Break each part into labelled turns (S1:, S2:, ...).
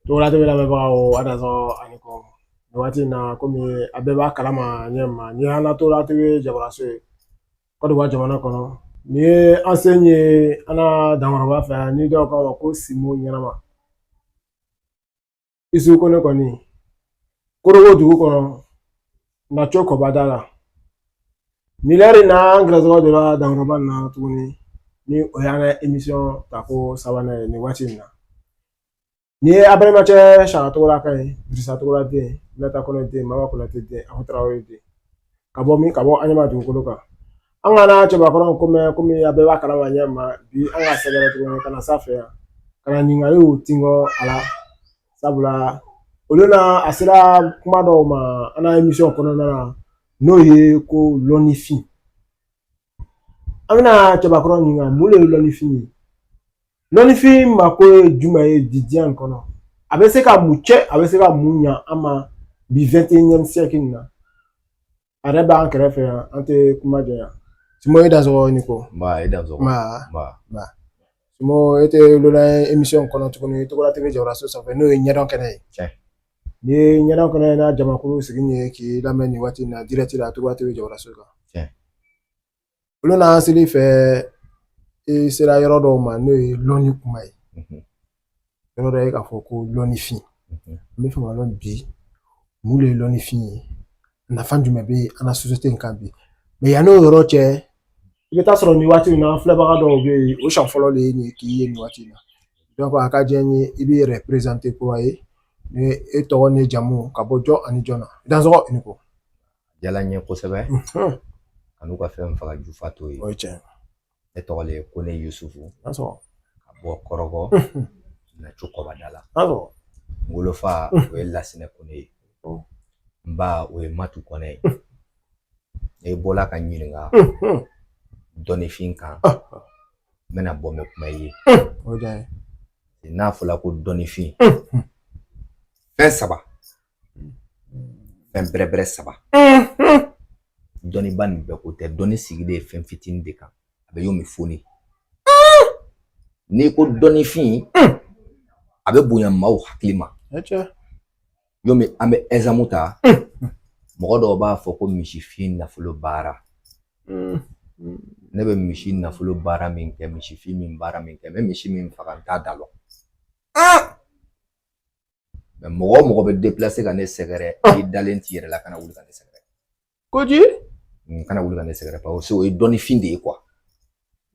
S1: Tɔgɔla TV lamɛnbagaw a dansɔgɔ a ni ko nin waati in na komi a bɛɛ b'a kalama ɲɛ ma ni an na Tɔgɔla TV jabaraso ye Kɔdiwari jamana kɔnɔ ni ye an sen ye an na dankɔrɔba fɛ yan ni dɔw k'a ma ko simo ɲɛnama Isu Kɔnɛ kɔni korogo dugu kɔnɔ Nacokɔbadala nin lɛri na an gɛrɛsɔgɔ donna dankɔrɔba na tuguni ni o y'an ka emisiyɔn ta ko sabanan ye nin waati in na ni ye abɛrɛmacɛ sara tɔgɔla ka ye dirisa tɔgɔla den Nata Kɔnɛ den Mama Konate den aho tarawele den ka bɔ min ka bɔ Aɲama dugukolo kan an ka na cɛbakɔrɔ ko mɛn komi a bɛɛ b'a kalama ɲɛ ma bi an ka sɛgɛrɛ tuguni ka na s'a fɛ yan ka na ɲininkaliw tingɔ a la sabula o lon na a sera kuma dɔw ma an ka emisiyɔn kɔnɔna na n'o ye ko lɔnnifin an bɛna cɛbakɔrɔ ɲininka mun de ye lɔnnifin ye lɔnnifin mako ye jumɛn ye bi diɲɛ in kɔnɔ a bɛ se ka mun cɛn a bɛ se ka mun ɲa an ma bi 21 siècle in na a yɛrɛ b'an kɛrɛfɛ yan an tɛ kuma janya simo i dansɔgɔ ni ko nba e dansɔgɔ nba nba simo e tɛ lolan emisiyɔn kɔnɔ tuguni Tɔgɔla TV jabaraso sanfɛ n'o ye ɲɛdɔn kɛnɛ ye tiɲɛ ni ɲɛdɔn kɛnɛ n'a jamakulu sigi ye k'i lamɛn nin waati in na dirɛti la tɔgɔla TV jabaraso kan o lon n'an sel'i fɛ i sera yɔrɔ dɔw ma n'o ye lɔnni kuma ye yɔrɔ dɔ ye k'a fɔ ko lɔnnifin n b'a fɛ k'a lɔn bi mun de ye lɔnnifin ye nafa jumɛn bɛ an ka sosiyete in kan bi mɛ yann'o yɔrɔ cɛ i bɛ t'a sɔrɔ nin waati in na filɛbaga dɔw bɛ yen o siɲɛ fɔlɔ de ye nin k'i ye nin waati in na donc a ka diya n ye i b'i yɛrɛ perezante kura ye ni e tɔgɔ ni jamu ka bɔ jɔn ani jɔn na dansɔgɔ i ni ko diyala n
S2: ye kosɛbɛ kan'u ka fɛn faga jufa t'o
S1: ye ne tɔgɔ le
S2: ye Kɔnɛ Yusufu ka bɔ Kɔrɔgɔ Nacokɔbadala n wolofa o ye Lasinɛ Kɔnɛ ye n ba o ye matu kɔnɛ ye e bɔla ka ɲininka dɔnnifin kan n bɛna bɔ mɛ kuma ye n'a fɔla ko dɔnnifin fɛn saba fɛn bɛrɛbɛrɛ saba dɔnniba nin bɛɛ ko tɛ dɔnni sigilen ye fɛn fitinin de kan a bɛ yɔrɔ min foni n'i ko dɔnnifin a bɛ bonya maaw hakili ma yɔrɔ min an bɛ ɛzamu ta mɔgɔ dɔw b'a fɔ ko misifin nafolo baara ne bɛ misi nafolo baara min kɛ misifin min baara min kɛ n bɛ misi min faga n t'a da lɔn mais mɔgɔ o mɔgɔ bɛ déplacer ka ne sɛgɛrɛ ah. i dalen t'i yɛrɛ la kana wuli ka ne sɛgɛrɛ
S1: koyi kana wuli
S2: ka ne sɛgɛrɛ parce que o ye dɔnnifin de ye quoi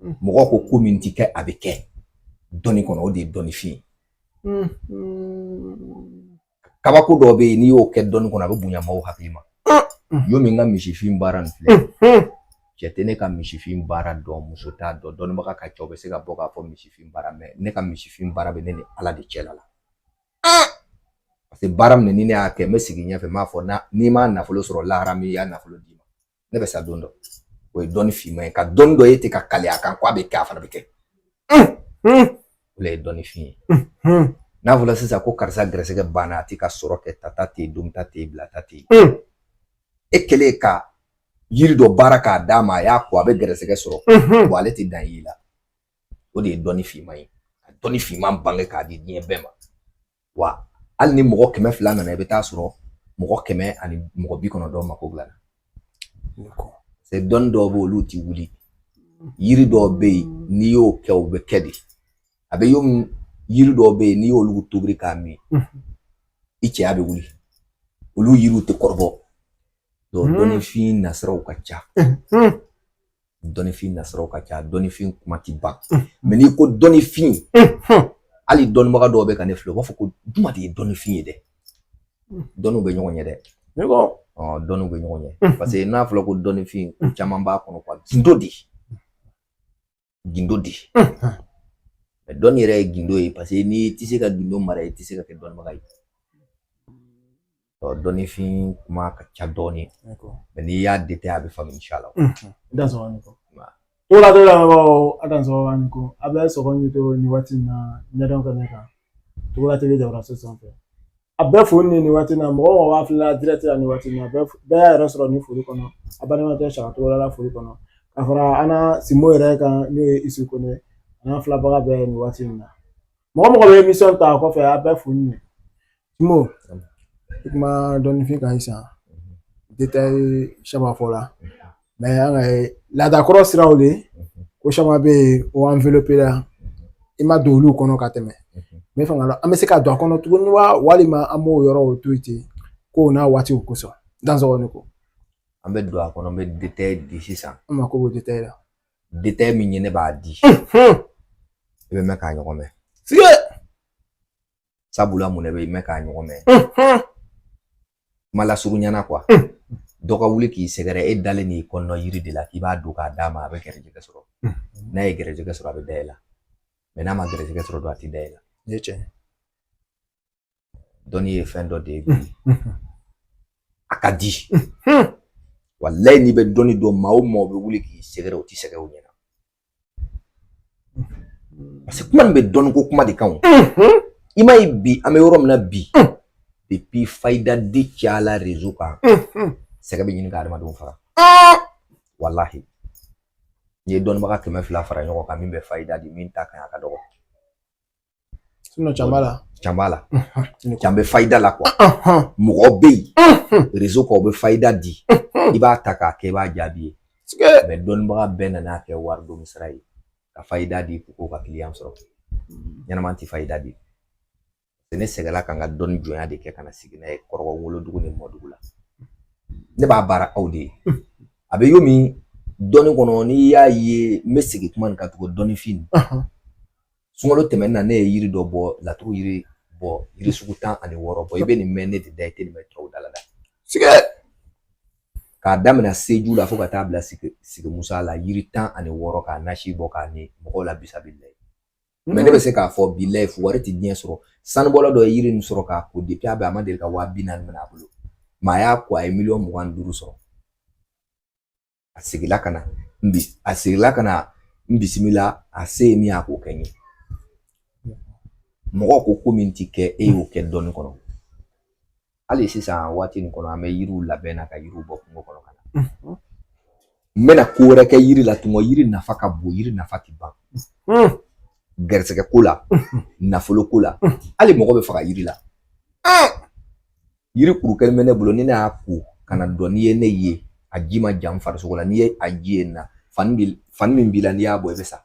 S2: hmm. mɔgɔ ko ko min ti kɛ a bɛ kɛ dɔnni kɔnɔ o de ye dɔnnifin ye hmm, hmm. kabako dɔ bɛ yen n'i y'o kɛ dɔnni kɔnɔ a bɛ bonya maaw hakili ma ah. yomi n ka misifin baara nin filɛ cɛ tɛ ne ka misifin baara dɔn muso t'a dɔn dɔnnibaga ka ca o bɛ se ka bɔ k'a fɔ misifin baara mais ne ka misifin baara bɛ ne ni Ala de cɛla la parce que baara min ni ne y'a kɛ n bɛ sigi ɲɛfɛ n b'a fɔ na n'i ma nafolo sɔrɔ lahara min y'a nafolo d'i ma ne bɛ sa don dɔ o ye dɔnni finman ye ka dɔnni dɔ ye ten ka kali a kan ko a bɛ kɛ a fana bɛ kɛ o de ye dɔnnifin ye n'a fɔra sisan ko karisa gɛrɛsɛgɛ banna a ti ka sɔrɔ kɛ tata tɛ yen donta tɛ yen bilata tɛ yen hmm. e kɛlen ka yiri dɔ baara k'a d'a ma a y'a ko a bɛ gɛrɛsɛgɛ sɔrɔ wa ale tɛ da i la o de ye dɔnni finman ye ka dɔnni finman bange k'a di diɲɛ bɛɛ ma wa hali ni mɔgɔ kɛmɛ fila nana i bɛ taa sɔrɔ mɔgɔ kɛmɛ ani mɔgɔ bi kɔnɔntɔn mako dilala c'est dɔnni dɔw bɛ olu ti wuli yiri dɔw bɛ yen n'i y'o kɛ o bɛ kɛ de a bɛ yomi yiri dɔw bɛ yen n'i y'olu tobiri k'a min i cɛya bɛ wuli olu yiriw tɛ kɔrɔbɔ dɔnnifin nasiraw ka ca dɔnnifin nasiraw ka ca dɔnnifin kuma ti ban mais n'i ko dɔnnifin hali dɔnnibaga dɔw bɛ ka ne filɛ u b'a fɔ ko juma de ye dɔnnifin ye dɛ dɔnniw bɛ ɲɔgɔn ɲɛ dɛ dɔnniw bɛ ɲɔgɔn ɲɛ parce que n'a fɔra ko dɔnnifin caman b'a kɔnɔ quoi gindo de gindo de dɔnni yɛrɛ ye gindo ye parce que n'i tɛ se ka gindo mara i tɛ se ka kɛ dɔnnibaga ye dɔnnifin kuma ka ca dɔɔnin mais n'i y'a détaillé a bɛ faamu insha Allah dansɔgɔ ni ko
S1: Togola TV lamɛnbaaw a dansɔgɔ ni ko a bɛ sɔgɔ ni to nin waati in na ɲɛdɔn kɛnɛ kan Togola TV jabaraso sanfɛ a bɛɛ foli ni nin waati in na mɔgɔ o mɔgɔ b'a filɛ la direct la nin waati in na bɛɛ y'a yɛrɛ sɔrɔ nin foli kɔnɔ a balimakɛ Saka Togola la foli kɔnɔ ka fara an na Sinbo yɛrɛ kan n'o ye Isu Kone a n'a filɛbaga bɛɛ nin waati in na mɔgɔ o mɔgɔ bɛ émission ta a kɔfɛ a bɛɛ foli ye Sinbo i kuma dɔnnifin kan sisan détail caman fɔla mais an ka laadakɔrɔ siraw de ko caman bɛ yen o enveloppé la i ma don olu kɔnɔ ka tɛmɛ n b'a fɛ k'a dɔn an bɛ se ka don a kɔnɔ tuguni wa walima an b'o yɔrɔw to yen ten kow n'a waatiw kosɔn dansɔgɔ ni ko an bɛ don a
S2: kɔnɔ n bɛ détail di sisan an mako b'o détail la
S1: détail min ye
S2: ne b'a di i bɛ mɛɛn k'a ɲɔgɔn mɛn fiye sabula mun de bɛ mɛɛn k'a ɲɔgɔn mɛn kuma lasurunyana quoi dɔ ka wuli k'i sɛgɛrɛ e dalen n'i kɔnɔ yiri de la k'i b'a don k'a d'a ma a bɛ gɛrɛjɛgɛ sɔrɔ n'a ye gɛrɛjɛgɛ sɔrɔ a bɛ da i la mais n'a ma gɛrɛjɛgɛ sɔrɔ dɔrɔn a tɛ da i la ne cɛ dɔnni ye fɛn dɔ de ye a ka di walayi n'i bɛ dɔnni dɔn maa o maa o bɛ wuli k'i sɛgɛrɛ o tɛ sɛgɛn o ɲɛna parce que kuma nin bɛ dɔnniko kuma de kan o i m'a ye bi an bɛ yɔrɔ min na bi depuis fayida di cayala rezo kan sɛgɛn bɛ ɲini ka adamadenw faga walahi n'i ye dɔnnibaga kɛmɛ fila fara ɲɔgɔn kan min bɛ fayida di min ta kan a ka dɔgɔ
S1: Sinon can b'a la. Can b'a
S2: la. Can bɛ fayida la quoi. Mɔgɔ bɛ yen. Rezo kan o bɛ fayida di. I b'a ta k'a kɛ i b'a jaabi ye. Mais dɔnnibaga bɛɛ nan'a kɛ wari don sira ye. Ka fayida di k'o ka kiliyan sɔrɔ. Ɲɛnama tɛ fayida di. Ne sɛgɛnna ka n ka dɔnni jɔnya de kɛ ka na sigi n'a ye kɔrɔbɔ wolodugu ni mɔdugu la. Ne b'a baara aw de ye. A bɛ yomi dɔnni kɔnɔ n'i y'a ye n bɛ segin kuma nin kan tugun dɔnnifin. sunkalo tɛmɛnen na ne ye yiri dɔ bɔ laturu yiri bɔ yiri sugu tan ani wɔɔrɔ bɔ i bɛ nin mɛn ne de da i tɛ nin mɛn tɔw da la dɛ sigɛ k'a daminɛ seju la fo ka taa bila sigi sigi musa la yiri tan ani wɔɔrɔ k'a nasi bɔ k'a ni mɔgɔw la bisabilayi mais ne bɛ se k'a fɔ bilayi wari tɛ diɲɛ sɔrɔ sanubɔla dɔ ye yiri nin sɔrɔ k'a ko depuis a bɛ a ma deli ka waa bi naani minɛ a bolo mais a y'a ko a ye miliyɔn mugan ni duuru sɔrɔ a seginla ka na n bi a seginla ka na n bisimila a se ye min ye a k'o kɛ n ye mɔgɔ ko ko min ti kɛ e y'o kɛ dɔnni kɔnɔ hali sisan waati nin kɔnɔ an bɛ yiriw labɛn na ka yiriw bɔ kungo kɔnɔ ka na n bɛna ko wɛrɛ kɛ yiri la tuma yiri nafa ka bon yiri nafa ti ban garisɛgɛ ko la nafolo ko la hali mɔgɔ bɛ faga yiri la yiri kuru kelen bɛ ne bolo ni ne y'a ko ka na dɔn n'i ye ne ye a ji ma jan farisogo la n'i ye a ji ye na fani bi fani min b'i la n'i y'a bɔ i bɛ sa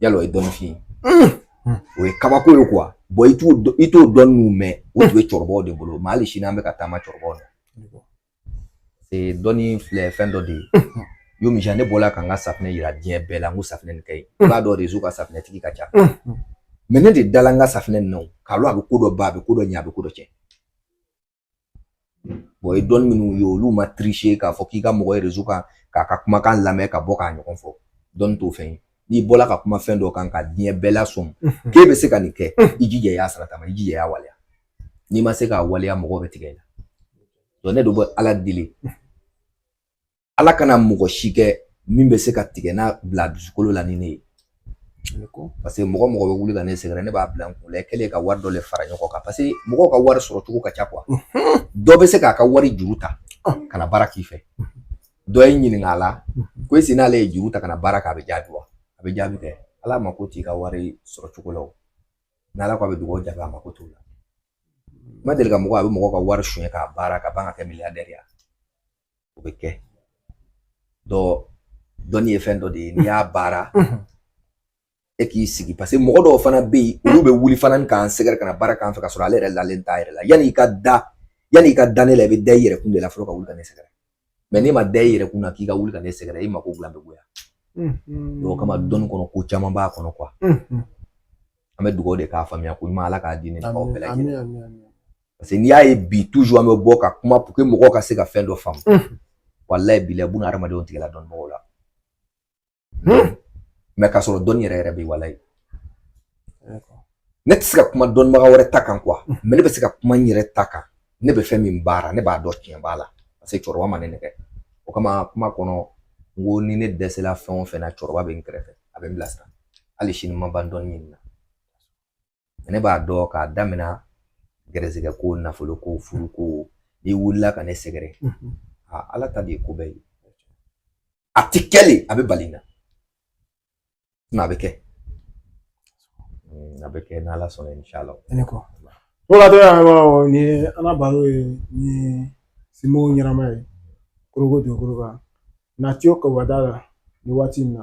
S2: yala o ye dɔnnifin ye o ye kabako ye quoi bon i t'o dɔn i t'o dɔn n'u mɛn o tun bɛ cɛkɔrɔbaw de bolo mais hali sini an bɛ ka taama cɛkɔrɔbaw la ee dɔnni filɛ fɛn dɔ de ye yomi jan ne bɔla ka n ka safinɛ yira diɲɛ bɛɛ la n ko safinɛ nin ka ɲi i b'a dɔn rezo kan safinɛtigi ka ca mais ne de dala n ka safinɛ nin na o k'a lɔn a bɛ ko dɔ ban a bɛ ko dɔ ɲɛ a bɛ ko dɔ cɛn bon ye dɔnni minnu ye olu ma triche k'a fɔ k'i ka mɔgɔ ye rezo kan k'a ka kumakan lamɛn ka bɔ k'a ɲɔgɔn fɔ dɔnni t'o fɛn ye n'i bɔla ka kuma fɛn dɔ kan ka diɲɛ bɛɛ lasɔmi k'e bɛ se ka nin kɛ i jija i y'a sarata ma i jija i y'a waleya n'i ma se k'a waleya mɔgɔw bɛ tigɛ i la Donc ne de bɛ Ala deli Ala kana mɔgɔ si kɛ min bɛ se ka tigɛ n'a bila dusukolo la ni ne ye parce que mɔgɔ mɔgɔ bɛ wuli ka ne sɛgɛrɛ ne b'a bila n kun la k'ale ka wari dɔ de fara ɲɔgɔn kan parce que mɔgɔw ka wari sɔrɔ cogo ka ca quoi dɔ bɛ se k'a ka wari juru ta ka na baara k'i fɛ dɔ ye ɲininka a la ko est-ce que n'ale ye juru ta ka na baara kɛ a bɛ jaabi wa a bɛ jaabi kɛ Ala mako t'i ka wari sɔrɔ cogo la o n'Ala ko a bɛ dugawu jaabi a mako t'o la N ma deli ka mɔgɔ a bɛ mɔgɔ ka wari suɲɛ k'a baara ka ban ka kɛ milliardaire o bɛ kɛ dɔ dɔnni ye fɛn dɔ de ye n'i y'a baara e k'i sigi parce que mɔgɔ dɔw fana bɛ yen olu bɛ wuli fana k'an sɛgɛrɛ ka na baara k'an fɛ ka sɔrɔ ale yɛrɛ lalen t'a yɛrɛ la yanni i ka da yanni i ka da ne la i bɛ da i yɛrɛ kun de la fɔlɔ ka wuli ka ne sɛgɛrɛ mais n'i ma da i yɛrɛ kun na k'i ka wuli ka ne sɛgɛrɛ i mako dilan bɛ goya o kama dɔnni kɔnɔ ko caman b'a kɔnɔ quoi an bɛ dugawu de k'a faamuya ko ɲuman ala k'a di ne aw bɛɛ lajɛlen parce que n'i y'a ye bi toujours an bɛ bɔ ka kuma pour que mɔgɔw ka se ka fɛn dɔ faamu walayi bilayi buna hadamadenw tigɛla dɔnnibagaw la mais k'a sɔrɔ dɔnni yɛrɛ yɛrɛ bɛ walayi ne tɛ se ka kuma dɔnnibaga wɛrɛ ta kan quoi mais ne bɛ se ka kuma n yɛrɛ ta kan ne bɛ fɛn min baara ne b'a dɔn tiɲɛ b'a la parce que cɛkɔrɔba ma ne nɛgɛ o kama kuma kɔnɔ n ko ni ne dɛsɛla fɛn o fɛn na cɛkɔrɔba bɛ n kɛrɛfɛ a bɛ n bilasira hali sini n ma ban dɔnni ɲini na ne b'a dɔn k'a daminɛ gɛrɛsɛgɛ ko nafolo ko furu ko n'i wulila ka ne sɛgɛrɛ ala ta de ye ko bɛɛ ye a ti kɛ le a bɛ bali na nka a bɛ kɛ a bɛ kɛ n'ala sɔnna inshala ne kɔ
S1: o la dɔrɔn an b'a ni ala baro ye ni simo ɲɛnama ye koroko don koroba na tiyo kɔba da la ni waati in na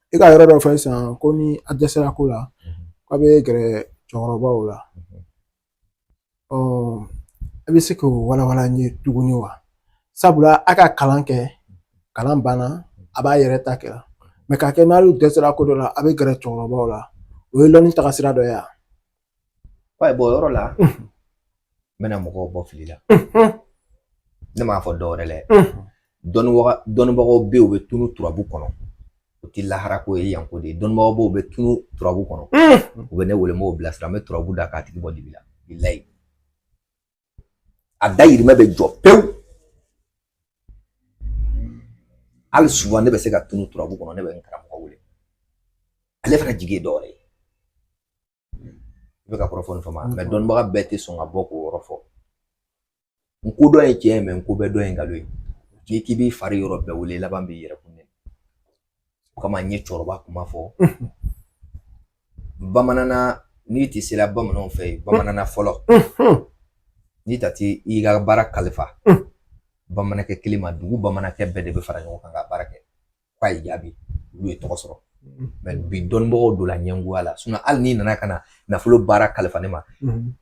S2: i ka yɔrɔ dɔ
S1: fɔ sisan ko ni a dɛsɛra ko la k'a bɛ gɛrɛ cɛkɔrɔbaw la ɔ a bɛ se k'o walawala n ye tuguni wa sabula a ka kalan kɛ kalan banna a b'a yɛrɛ ta kɛla mais k'a kɛ n'ale dɛsɛra ko dɔ la a bɛ gɛrɛ cɛkɔrɔbaw la o ye lɔnni tagasira dɔ ye wa
S2: Wayi bɔ yɔrɔ la n bɛna mɔgɔw bɔ fili la ne m'a fɔ dɔwɛrɛ le dɔnnibaga dɔnnibagaw bɛ yen u bɛ tunu turabu kɔnɔ o tɛ lahara ko ye yanko de ye dɔnnibagaw bɛ yen u bɛ tunu turabu kɔnɔ u bɛ ne wele n b'o bilasira n bɛ turabu da k'a tigi bɔ dibi la bilayi a dayirimɛ bɛ jɔ pewu hali souvent ne bɛ se ka tunu turabu kɔnɔ ne bɛ n karamɔgɔ wele ale fana jigi ye dɔ wɛrɛ ye i bɛ ka kɔrɔfɔ nin faamu mais dɔnnibaga bɛɛ tɛ sɔn ka bɔ k'o yɔrɔ fɔ n ko dɔn ye tiɲɛ ye mais n ko bɛɛ dɔn ye nkalon ye n'i k'i b'i fari yɔrɔ bɛɛ wele i laban b'i yɛrɛ kun O kama n ye cɛkɔrɔba kuma fɔ bamananna n'i tɛ sera bamananw fɛ yen bamananna fɔlɔ n'i ta tɛ i ka baara kalifa bamanankɛ kelen ma dugu bamanankɛ bɛɛ de bɛ fara ɲɔgɔn kan ka baara kɛ k'a ye jaabi olu ye tɔgɔ sɔrɔ mɛ bi dɔnnibagaw donna ɲɛngoya la hali n'i nana ka na nafolo baara kalifa ne ma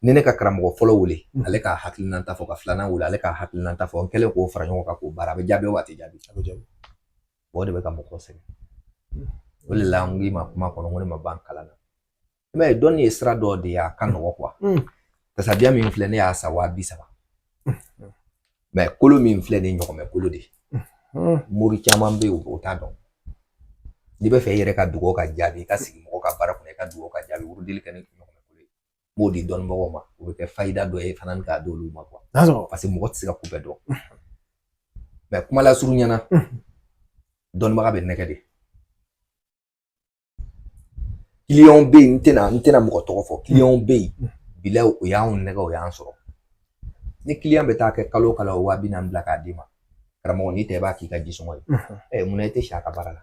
S2: ni ne ka karamɔgɔ fɔlɔ wele ale ka hakilinan ta fɔ ka filanan wele ale ka hakilinan ta fɔ n kɛlen k'o fara ɲɔgɔn kan k'o baara a bɛ jaabi wa a ti jaabi o de bɛ ka mɔgɔ sɛgɛn o de la n k'i ma kuma kɔnɔ n ko ne ma ban kalan na i b'a ye dɔnni ye sira dɔ de ye a ka nɔgɔ kuwa tasabiya min filɛ ne y'a san waa bi saba mɛ kolo min filɛ nin ɲɔgɔmɛ kolo de mori caman bɛ yen o t'a dɔn n'i bɛ fɛ i yɛrɛ ka dugawu ka jaabi i ka sigi mɔgɔ ka baara kɔnɔ i ka dugawu ka jaabi wurudili kɛ ni ɲɔgɔmɛ kolo ye n b'o di dɔnnibagaw ma o bɛ kɛ fayida dɔ ye fana k'a d'olu ma kuwa paseke mɔgɔ tɛ se ka ko bɛɛ dɔn mɛ kuma lasurunya na dɔnnibaga bɛ nɛgɛn de kiliyanw bɛ yen n tɛna n tɛna mɔgɔ tɔgɔ fɔ kiliyanw bɛ yen bilayi o y'anw nɛgɛn o y'an sɔrɔ ni kiliyan bɛ taa kɛ kalo o kalo waa bi naani bila k'a d'i ma karamɔgɔ n'i tɛ i b'a k'i ka jisɔngɔ ye ɛ munna i tɛ si a ka baara la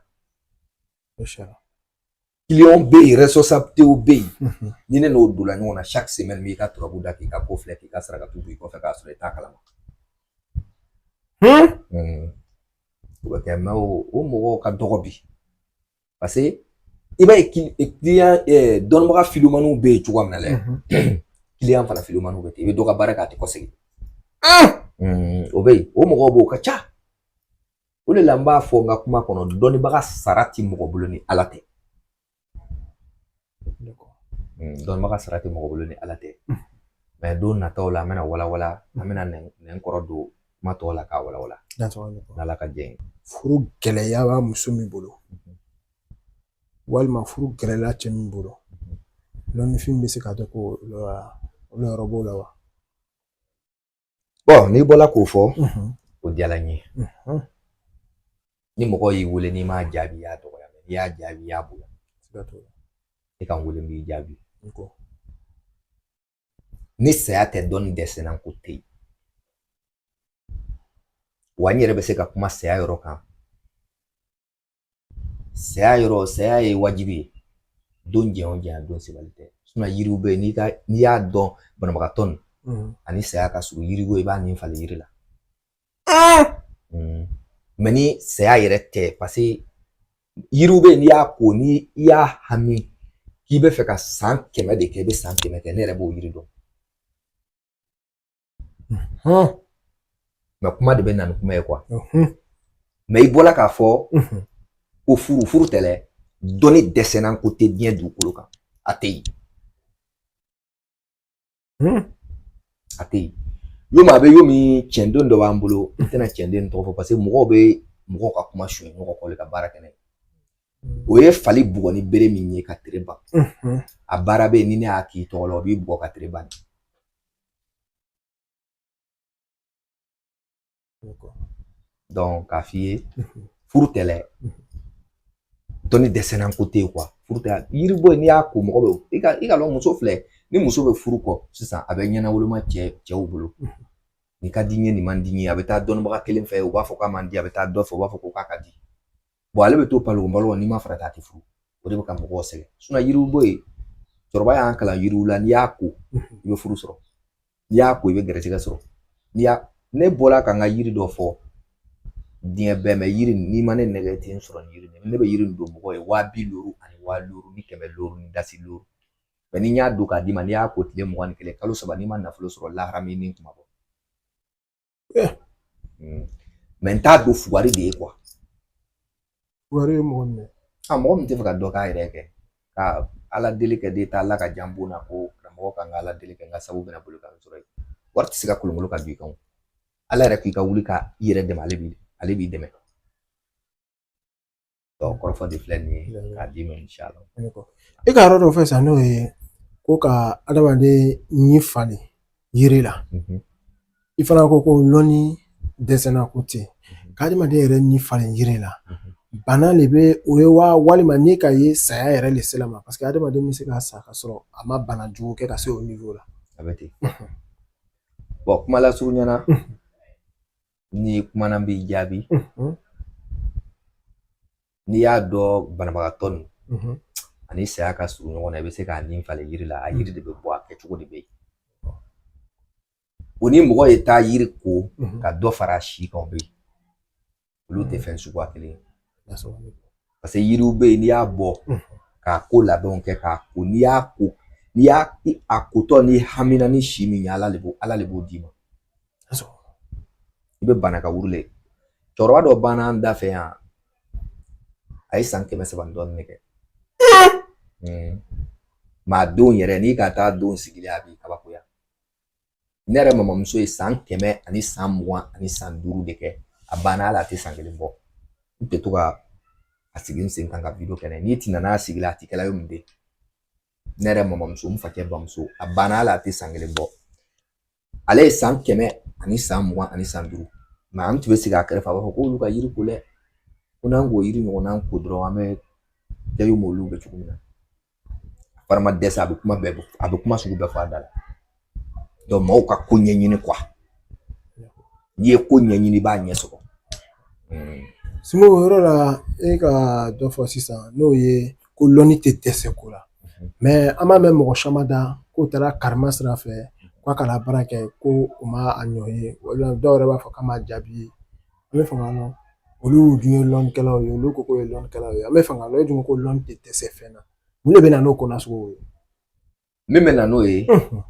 S2: kiliyanw bɛ yen rɛsɔsabitew bɛ yen mhm. ni ne n'o donna ɲɔgɔn na saki semɛni n b'i ka turabu da k'i ka ko filɛ k'i ka sarakatu b'i kɔfɛ k'a sɔrɔ i t'a kalama hmm? hmm. o bɛ kɛ mɛ o mɔgɔw ka dɔgɔ bi paseke i b'a ye kiliyan eh, dɔnnibaga filumaniw bɛ yen cogoya min na dɛ mhm. kiliyan fana filumaniw bɛ ten i bɛ dɔ ka baara kɛ a tɛ kɔsegin hmm. o bɛ yen o mɔgɔw b'o ka ca o de la n b'a fɔ n ka kuma kɔnɔ dɔnnibaga sara ti mɔgɔ bolo ni ala tɛ hmm, dɔnnibaga sara ti mɔgɔ bolo ni ala tɛ hmm. mɛ don nataw la an bɛna walawala an bɛna nɛn kɔrɔ don kuma tɔw la k'a walawala n'ala ka jɛn furu
S1: gɛlɛyala muso min bolo mhm. walima furu gɛlɛyala cɛ min bolo lɔnnifin bɛ se ka kɛ ko lɔyɔrɔ b'o la wa
S2: bɔn n'i bɔla k'o fɔ o diyara n ye ni mɔgɔ y'i wele n'i m'a jaabi i y'a dɔgɔya mɛ n'i y'a jaabi i y'a bonya i ka n wele n b'i jaabi ni saya tɛ dɔnni dɛsɛnna ko tɛ yen wa n yɛrɛ bɛ se ka kuma saya yɔrɔ kan saya yɔrɔ saya ye wajibi ye don jɛn o jɛn don sebali tɛ yiriw bɛ yen n'i ka n'i y'a dɔn banabagatɔ nin mm. ani saya ka surun yiriw i b'a nin falen yiri la ah! mm. mɛ ni saya yɛrɛ tɛ paseke yiriw bɛ yen n'i y'a ko ni i y'a hami k'i bɛ fɛ ka san kɛmɛ de kɛ i bɛ san kɛmɛ kɛ ne yɛrɛ b'o yiri dɔn mɛ kuma de bɛ na ni kuma ye quoi mɛ i bɔla k'a fɔ ko furu furu tɛlɛ dɔnni dɛsɛnna ko tɛ diɲɛ dugukolo kan a tɛ yen a tɛ yen yo min a bɛ yo min cɛnden dɔ b'an bolo n tɛna cɛnden tɔgɔ fɔ parce que mɔgɔw bɛ mɔgɔw ka kuma suɲɛ ɲɔgɔn kɔ ka baara kɛ n'a ye o ye fali bugɔ ni bere min ye ka tere ban a baara bɛ yen ni ne y'a k'i tɔgɔ la o b'i bugɔ ka tere ban k'a f'i ye furu tɛlɛ dɔnni dɛsɛnna ko tɛ yen quoi furu tɛ yiri bɔ n'i y'a ko mɔgɔ bɛ i ka i ka dɔn muso filɛ ni muso bɛ furu kɔ sisan a bɛ ɲɛnawoloma cɛ cɛw bolo nin ka di n ye nin man di n ye a bɛ taa dɔnnibaga kelen fɛ o b'a fɔ k'a man di a bɛ taa dɔ fɛ o b'a fɔ ko k'a ka di ale bɛ to palon balo n'i ma farati a tɛ furu o de bɛ ka mɔgɔw sɛgɛn yiriw bɔ yen cɛkɔrɔba y'an kalan yiriw la n'i y'a ko i bɛ furu sɔrɔ n'i y'a ko i bɛ gɛrɛsɛgɛ sɔrɔ n'i y'a ne bɔra ka n ka yiri dɔ fɔ diɲɛ bɛɛ mɛ yiri n'i ma ne nɛgɛ ten sɔrɔ ni yiri ne bɛ yiri don mɔgɔ ye waa bi duuru ani waa duuru ni kɛmɛ duuru ni dasi duuru mɛ ni n y'a don k'a d'i ma n'i y'a ko tile mugan ni kelen kalo saba n'i ma nafolo sɔrɔ lahara min ni kuma bɔ eh. hmm. mɛ n t'a don fugari de ye
S1: quoi fugari ye mɔgɔ min ye a mɔgɔ min tɛ fɛ ka dɔ
S2: k'a yɛrɛ kɛ ka ala deli kɛ de ta ala ka jan bon na ko karamɔgɔ kan ka ala deli kɛ n ka sabu bɛna bolo kan sɔrɔ ye wari tɛ se ka kolonkolon ka don i kan ala yɛrɛ k'i ka wuli ka i yɛrɛ dɛmɛ ale b'i ale b'i dɛmɛ kɔrɔfɔ de filɛ nin ye k'a d'i ma inshallah i ka
S1: yɔrɔ dɔ fɛ sisan n'o ye ko ka adamaden ni falen yiri la i fana ko ko lɔnni dɛsɛnna ko tɛ ka adamaden yɛrɛ ni falen yiri la bana le bɛ o ye wa walima n'i k'a ye saya yɛrɛ le sela a ma parce que adamaden bɛ se ka sa ka sɔrɔ a ma bana jugu kɛ ka se o niveau la a bɛ ten
S2: bon kuma lasurunya na nin kuma na n b'i jaabi n'i y'a dɔn banabagatɔ nin ani saya ka surun ɲɔgɔn na i bɛ se k'a ni falen yiri la a yiri de bɛ bɔ a kɛcogo de bɛ yen o ni mɔgɔ ye taa yiri ko ka dɔ fara a si kan o bɛ yen olu tɛ fɛn suguya kelen ye parce que yiriw bɛ yen n'i y'a bɔ k'a ko labɛnw kɛ k'a ko n'i y'a ko n'i y'a a kotɔ n'i hamina ni si min ye ala de b'o ala de b'o d'i ma i bɛ bana ka wuli cɛkɔrɔba dɔ banna an da fɛ yan a ye san kɛmɛ saba ni dɔɔnin ne kɛ maa don yɛrɛ n'i ka taa don sigilen a b'i kabakoya ne yɛrɛ mamamuso ye san kɛmɛ ani san mugan ani san duuru de kɛ a banna hali a tɛ san kelen bɔ n tɛ to ka a sigi n sen kan ka wideyo kɛ n'a ye n'i tɛna n'a sigi la a tɛ kɛla ye mun de ye ne yɛrɛ mamamuso n fakɛ bamuso a banna hali a tɛ san kelen bɔ ale ye san kɛmɛ ani san mugan ani san duuru mɛ an tun bɛ sigi a kɛrɛfɛ a b'a fɔ k'olu ka yiri ko dɛ ko n'an k'o yiri ɲɔgɔnna ko dɔrɔn an bɛ kɛ m'olu bɛ cogo min na fari ma dɛsɛ a bɛ kuma bɛɛ a bɛ kuma sugu bɛɛ fɔ a da la maaw ka ko ɲɛɲini kuwa n'i ye ko ɲɛɲini i b'a ɲɛ sɔrɔ
S1: simbo o yɔrɔ la e ka dɔ fɔ sisan n'o ye ko lɔnni tɛ dɛsɛ ko la mɛ an b'a mɛn mɔgɔ caman da k'o taara karima sira fɛ k'a k'a la baara kɛ ko u ma a ɲɔ ye walima dɔw yɛrɛ b'a fɔ k'a ma jaabi an bɛ fɛ k'a lɔn olu dun ye lɔnnikɛlaw ye olu ko k'o ye lɔnnikɛlaw ye an bɛ fɛ k'a lɔn e dun ko lɔnni tɛ dɛsɛ fɛn na mun de bɛ na n'o ko nasugu ye min bɛ
S2: na n'o ye n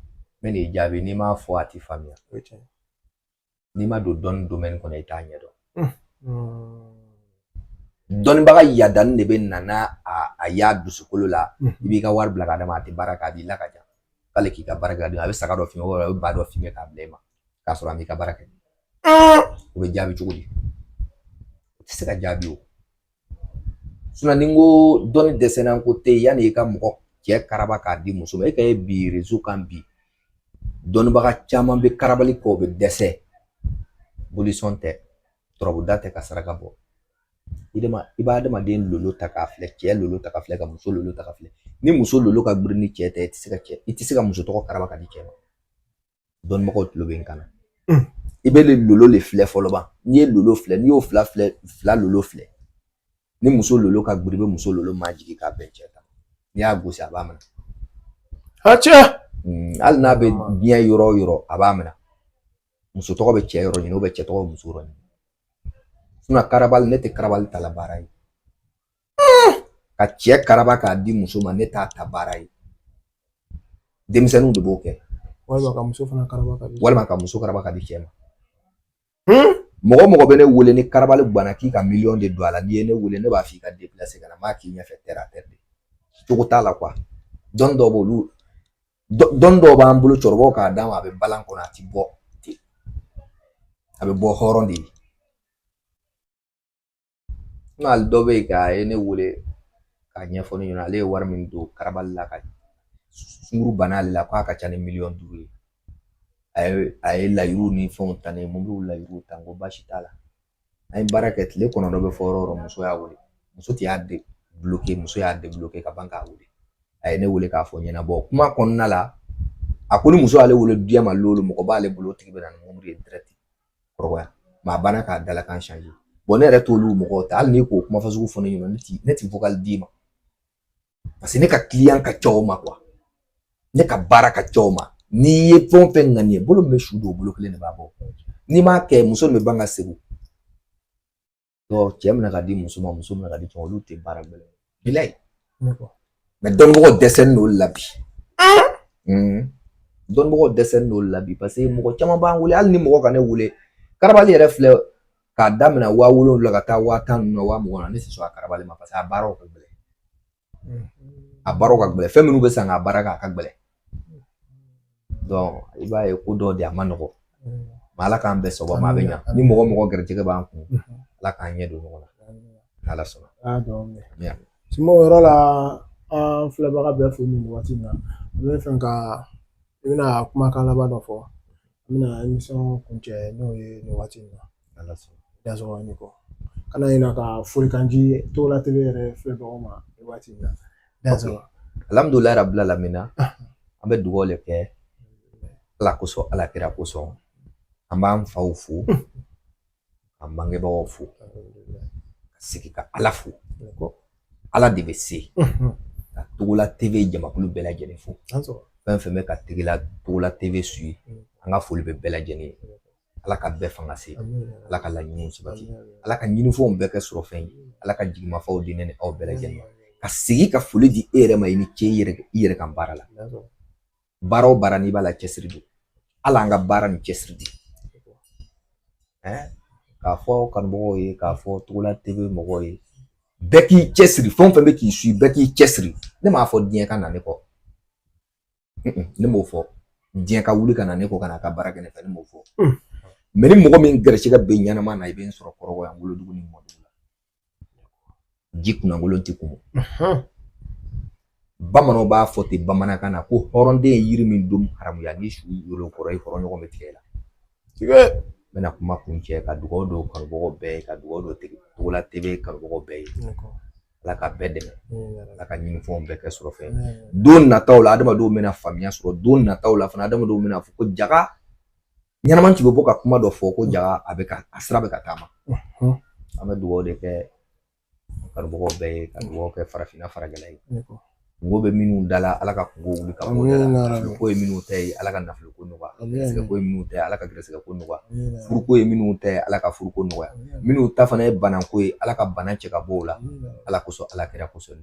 S2: bɛ n'i jaabi n'i m'a fɔ a tɛ faamuya n'i ma don dɔnni domɛni kɔnɔ i t'a ɲɛdɔn dɔnnibaga yadani de bɛ na n'a y'a dusukolo la i b'i ka wari bila ka d'a ma a tɛ baara kɛ a b'i la ka ja k'ale k'i ka baara kɛ a bɛ saga dɔ f'i ye walima a bɛ ba dɔ f'i ye k'a bila i ma k'a sɔrɔ a m'i ka baara kɛ o bɛ jaabi cogo di o tɛ se ka jaabi o ni n ko dɔnni dɛsɛnna ko tɛ yen yanni i ka mɔgɔ cɛ karaba k'a di muso ma e ka ye bi rezo kan bi dɔnnibaga caman bɛ karabali kɛ o bɛ dɛsɛ bolisɔn tɛ turabuda tɛ ka saraka bɔ i de ma i b'a adamaden lolo ta k'a filɛ cɛ lolo ta ka filɛ ka muso lolo ta ka filɛ ni muso lolo ka girin ni cɛ ta ye i tɛ se ka cɛ i tɛ se ka muso tɔgɔ karaba ka di cɛ ma dɔnnibagaw tulo bɛ n kan na hmm. i bɛ lolo le filɛ fɔlɔ ban n'i ye lolo filɛ n'i y'o fila filɛ fila lolo filɛ ni muso lolo ka girin i bɛ muso lolo majigin k'a bɛn cɛ kan n'i y'a gosi a b'a minɛ a cɛ hmm, hali n'a bɛ diɲɛ yɔrɔ o yɔrɔ a b'a minɛ muso tɔgɔ bɛ cɛ yɔrɔ ɲini cɛ tɔgɔ bɛ muso yɔrɔ ɲini karabali ne tɛ karabali ta la baara ye ka cɛ karaba k'a di muso ma ne t'a ta baara ye denmisɛnninw de b'o kɛ walima ka muso
S1: fana karaba ka di walima ka muso karaba ka
S2: di cɛ ma mɔgɔ mɔgɔ bɛ ne wele ni karabali guwana k'i ka miliyɔn de don a la n'i ye ne wele ne b'a f'i ka deplase ka na n b'a k'i ɲɛfɛ tɛrɛ a tɛrɛ de cogo t'a la kuwa dɔnni dɔw b'olu dɔnni dɔw b'an bolo cɛkɔrɔbaw k'a d'an ma a bɛ balan kɔnɔ a ti bɔ ten a bɛ bɔ hɔrɔn de ye n hali dɔ bɛ yen ka ye ne wele k'a ɲɛfɔ ne ɲɛna ale ye wari min don karabali la ka sunguru bana ale la k'a ka ca ni miliyɔn duuru ye a ye a ye layiruw ni fɛnw ta ne ye mobiliw layiruw ta n ko baasi t'a la an ye baara kɛ tile kɔnɔntɔn bɛ fɔ yɔrɔ o yɔrɔ muso y'a wele muso tɛ y'a debuloke muso y'a debuloke ka ban k'a wele a ye ne wele k'a fɔ ɲɛnabɔ kuma kɔnɔna la a ko ni muso y'ale wele diɲɛ ma lolo mɔgɔ b'ale bolo o tigi bɛ na ni mobili ye dirɛti kɔrɔbaya mɛ a banna k'a dalakan changer bon ne yɛrɛ t'olu mɔgɔw ta hali n'i k'o kuma fasugu fɔ ne ɲɛna ne ti ne ti vocal d'i ma parce que ne ka kiliyan ka ca o ma kuwa ne ka baara ka ca o ma n'i ye fɛn o fɛn ŋaniye bolo min bɛ su don o bolo kelen de b'a bɔ n'i m'a kɛ muso min bɛ ban ka segu cɛ minɛ k'a di muso ma muso minɛ k'a di cɛ ma olu tɛ baara gɛlɛn bilayi mɛ dɔnbagaw dɛsɛlen don la bi dɔnbagaw dɛsɛlen don la bi paseke mɔgɔ caman b'an wele hali ni mɔgɔ ka ne wele karabali yɛrɛ filɛ k'a daminɛ waa wolonwula ka taa waa tan ninnu na waa mugan na ne tɛ sɔn a karabali ma paseke a baaraw ka gɛlɛn a baaraw ka gɛlɛn fɛn minnu bɛ san k'a baara kɛ a ka gɛlɛn i b'a ye ko dɔ de a ma nɔgɔ ala k'an bɛɛ sɔgɔma ma bɛ ɲa ni mɔgɔ mɔgɔ gɛrɛjɛgɛ b'an kun ala k'an ɲɛ don ɲɔgɔn na n'ala sɔnna sumaw
S1: yɔrɔ la an filɛbaga bɛɛ fo nin waati in na n b'a fɛ ka i bɛna kumakan laban dɔ fɔ an bɛna emisɔn kuncɛ n'o ye nin waati in na ala
S2: sɔnna dansɔgɔ ni
S1: kɔ kana ɲina ka folikan di togola tele yɛrɛ filɛbagaw ma nin waati in na dansɔgɔ
S2: alhamdulilayi rabil alamina ah. an bɛ dugaw le kɛ ala kosɔn ala kira kosɔn an b'an faw fo k'an bangebagaw fo ka sigi ka ala fo ala de bɛ se ka togola tv jamakulu bɛɛ lajɛlen fo fɛn fɛn bɛ ka tigila togola tv suivi mm. an ka foli bɛ bɛɛ lajɛlen ye ala ka bɛɛ fanga se ala ka laɲiniw sabati ala ka ɲinifɛnw bɛɛ kɛ sɔrɔfɛn ye ala ka jigimafaw di ne ni aw bɛɛ lajɛlen ka sigi ka foli di e yɛrɛ ma i ni ce i yɛrɛ kan baara la baara o baara n'i b'a la cɛsiri don ala an ka baara ni cɛsiri di k'a fɔ kanubagaw ye k'a fɔ togola tv mɔgɔw ye bɛɛ k'i cɛsiri fɛn o fɛn bɛ k'i suivi bɛɛ k'i cɛsiri ne m'a fɔ diɲɛ ka na ne kɔ ne m'o fɔ diɲɛ ka wuli ka na ne kɔ ka na ka baara kɛ ne fɛ ne m'o fɔ mɛ ni mɔgɔ min garisigɛ bɛ ɲɛnama na i bɛ n sɔrɔ kɔrɔbɔ yan wolodugu ni mɔdugu la ji kunnakolon ti kumu bamananw b'a fɔ ten bamanankan na ko hɔrɔnden ye yiri min don haramuya ni su yolo kɔrɔ i kɔrɔ ɲɔgɔn bɛ tigɛ la tigɛ n bɛna kuma kuncɛ ka dugawu don kanubagaw bɛɛ ye ka dugawu don togola tv kanubagaw bɛɛ ye ala ka bɛɛ dɛmɛ ala ka ɲinifɛnw bɛɛ kɛ sɔrɔfɛn don nataw la adamadenw bɛna faamuya sɔrɔ don nataw la fana adamadenw bɛn'a fɔ ko jaga ɲɛnama tun bɛ bɔ ka kuma dɔ fɔ ko jaga a sira bɛ ka taama an bɛ dugawu de kɛ kanubagaw bɛɛ ye ka dugawu kɛ farafinna farajɛla ye kunko bɛ minnu da la ala ka kunko wuli ka bɔ da la nafolo ko ye minnu ta ye ala ka nafolo ko nɔgɔya gɛrɛsɛgɛ ko ye minnu ta ye ala ka gɛrɛsɛgɛ ko nɔgɔya furuko ye minnu ta ye ala ka furuko nɔgɔya minnu ta fana ye banako ye ala ka bana cɛ ka bɔ u la ala kosɔn ala kira kosɔn